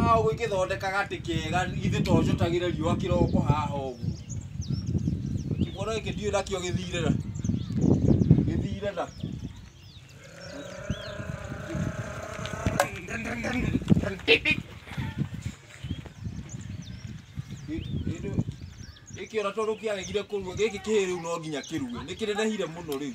haha ũguo ingĩthondeka gatĩ kega ithe to njũtagĩre riũa kĩroko haha ũguo kĩmwana gĩkĩ ndiũĩ nakĩo gĩthire na gĩthire na gĩkĩ ona tondũ kĩaregire kũrua gĩkĩ kĩhĩ rĩu no nginya kĩrue nĩ kĩnenehire mũno rĩu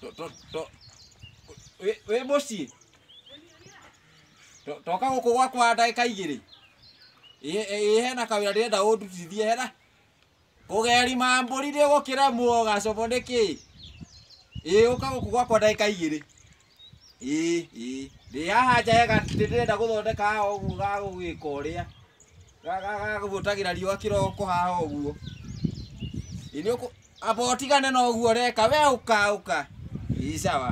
To to to we we muciĩ. To- Toka gũkũ gwakwa ndagĩka igĩrĩ. Ĩ- ĩ- Hena kawĩra ndĩrenda ũndutithie hena. Kũgeri mambũri nĩ gũkĩremwo gacobo nĩkĩ? Ĩ ũka gũkũ gwakwa ndagĩka igĩrĩ. ĩĩ ĩĩ ndĩ haha nja hega ndĩ- ndĩrenda gũthondeka haha ũguo gagũgĩka ũrĩa Ga- ga- gagũtagĩra riũa kĩroko haha ũguo Ĩ, nĩ ũkũ- amba ũtigane na ũguo ũreka we ũka ũka ĩĩ sawa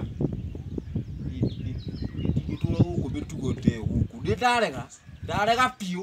gĩtũra gũkũ mĩtugo ta ĩyo gũkũ nĩ ndarega ndarega biũ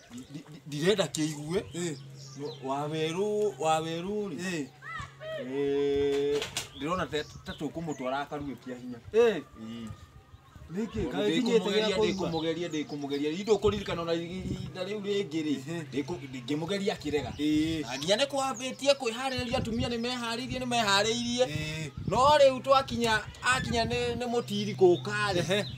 Ndi- ndi- ndirenda kĩigue Eh, No- wawerũ wawerũ rĩ eh, eh, ndĩrona ta- ta tũkũmũtwara akarue kĩa hinya eh, Ii. nĩkĩ Tondũ kaĩ nginyĩte gĩa ndĩkũmũgeria kũigua ndĩkũmũgeria ndĩkũmũgeria rĩu ndũkũririkana ona ihinda rĩu rĩngĩ rĩ Ehe. ndĩkũ- ndĩngĩmũgeria akĩrega Eh, Na nginya nĩ kwambĩtie kwĩharĩrĩria atumia nĩ meharĩirie nĩ meharĩirie eh, no rĩu twakinya akinya nĩ nĩ mũtiri kũũka rĩ ehe.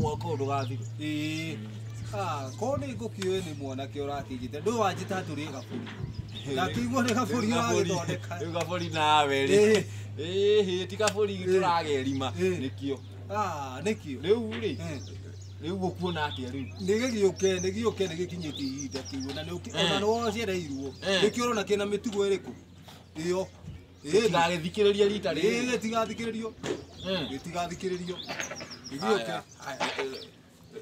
mwaka ndũgathirwo ĩĩ Ah, korwo nĩ ngũkĩũĩ nĩ mwanake ũrakĩnjĩte ndũĩ wanjĩta atĩ ũrĩ gabũri ndakĩiguo nĩ gabũri ũragĩthondeka Rĩu gabũri nawe rĩ Ĩĩ. Ĩĩ, hĩ, ti gabũri Ĩĩ. tũragerima Ĩĩ. nĩkĩo Ah, nĩkĩo rĩu rĩ Eh. rĩu ũkuona atĩa rĩu nĩgĩgĩũke nĩgĩũke nĩgĩkinyĩtie ihinda kĩu na nĩũki- Eh. ona nĩwocereirwo Eh. nĩkĩo ũrona kĩna mĩtugo ĩrĩkũ ĩyo Tigagĩthikĩrĩria rita rĩrĩ. Ĩĩ tigathikĩrĩrio. Ĩĩ tigathikĩrĩrio. Ithiũke.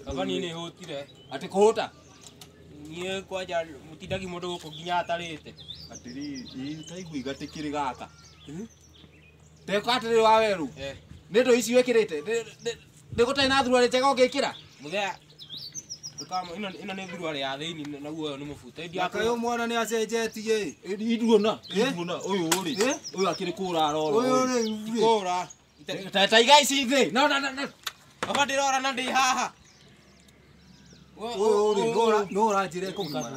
Kabani nĩ hũtire. Atĩ kũhũta? Niĩ kwanja mũtindagi mũndũ gũkũ nginya atarĩte. Atĩrĩ, ĩĩ taigua igatĩkĩrĩ gaka. Teka atĩrĩ wa werũ. Nĩ ndũ ici wĩkĩrĩte. Nĩ gũtarĩ na thuruarĩ njega ũngĩkĩra? Mũthee Ndũkamo- ĩno- ĩno nĩ thuruarĩ ya thĩinĩ naguo ũyũ nĩ mũbuto Ĩndi Nyaka ũyũ akũrũ- mwana nĩ acenjetie ĩ. Ĩndi iduona Eh? iduona ũyũ rĩ Eh? ũyũ akĩrĩ kũra arora Ũyũ rĩ, rĩ. Kũra. Ita- Ta- ta igai ici thĩ no no no no Baba ndĩrora na ndĩ haha. Ũyũ rĩ, nũ ũra- nũ ũranjĩra ekũgimara.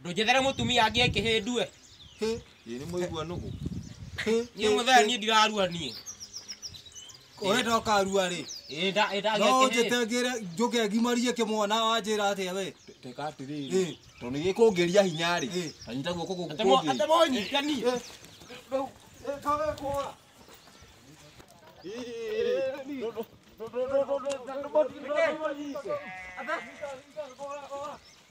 Ndũnjethere mũtumia angĩ e kĩhĩndue. Ĩ nĩ mũigua nũgũ. Niĩ mũthee niĩ ndirarua niĩ. Oe ndoka arua rĩ. Ĩ nda ĩ ndagĩa No njĩte kĩhĩndue. ngĩre njũke ngimarie kĩmwana wanjĩra atĩa we. Teka Ĩ. atĩrĩrĩ. Tondũ nĩ gĩkũngĩria hinya Ĩ. rĩ. Ta nyita guoko gũkũ Atemo kũngĩ. atemo nyitania. Ĩ.